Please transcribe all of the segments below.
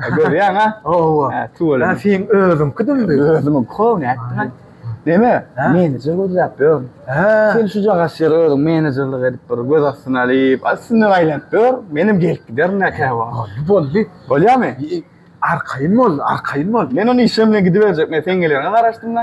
Görýäň ha? Hawa. Ha, tüweleme. Ha, sen özüňki dümdi. Özümiň kowny etdim. Deme, menejer gözläp ýör. Ha. Sen şu jagaş ýere özüň menejerlik edip bir göz astyna alyp, aslyndan aýlanyp ýör. Menem gelip giderin näkä wagt. Boldy. Bolýamy? Arkaýyn bol, arkaýyn bol. Men ony işim bilen gidiberjek. Men sen gelýäňe garaşdym-da.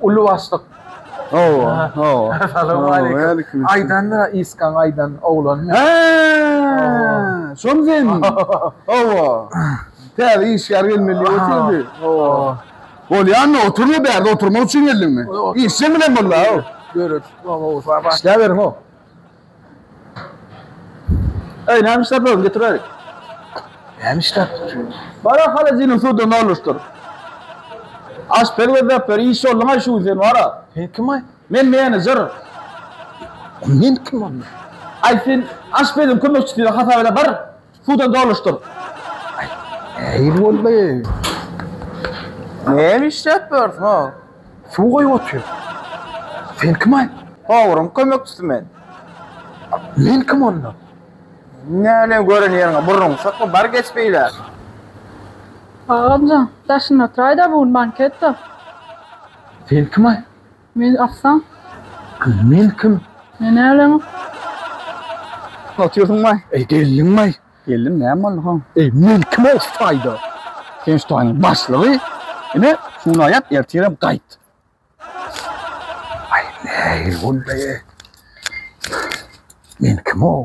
Uly başlyk. Hawa, hawa. Assalamualeýkum. Aýdanda Iskan aýdan oglan. Ha! Şoň sen. Hawa. Täze işgär gelmeli oturdy. Hawa. Bolýanmy? Oturma bärde oturmak üçin geldiňmi? Işjeň bilen bolda. Görüp, hawa, sabaş. Işläberiň o. Eý, näme iş tapýarsyň, getiräýik. Näme iş tapýarsyň? Bar-a, holodilnik suwdan doluşdyr. Aşpez gözläp ber, işçi bolduň-aý şu gün sen, bar-a. Sen kim-aý? Men menejer. Men kim onda? Aý, sen aşpeziň kömekçisi hasap ede, bar. Suwdan doluşdyr. Äý boldy. Näme işläp ýörsüň ha? Suw goýup otyr. Sen kim-aý? Towryň kömekçisi men. Men kim onda? Näleň gören ýeriňe burnuňy sokma, bar geç beýle. Agamjan, daşynda otyraý-da, bu gün banket-de. Sen kim-aý? Men atsaň. Men kim? Men älem. Otyrdun bay. Ey geldiň bay. Geldim näme boldy ho? Ey men kim ol Spider? Sen Spider'ın başlygy. Ine şunu ayat ertirem kayt. Ay ne bu be? Men kim o?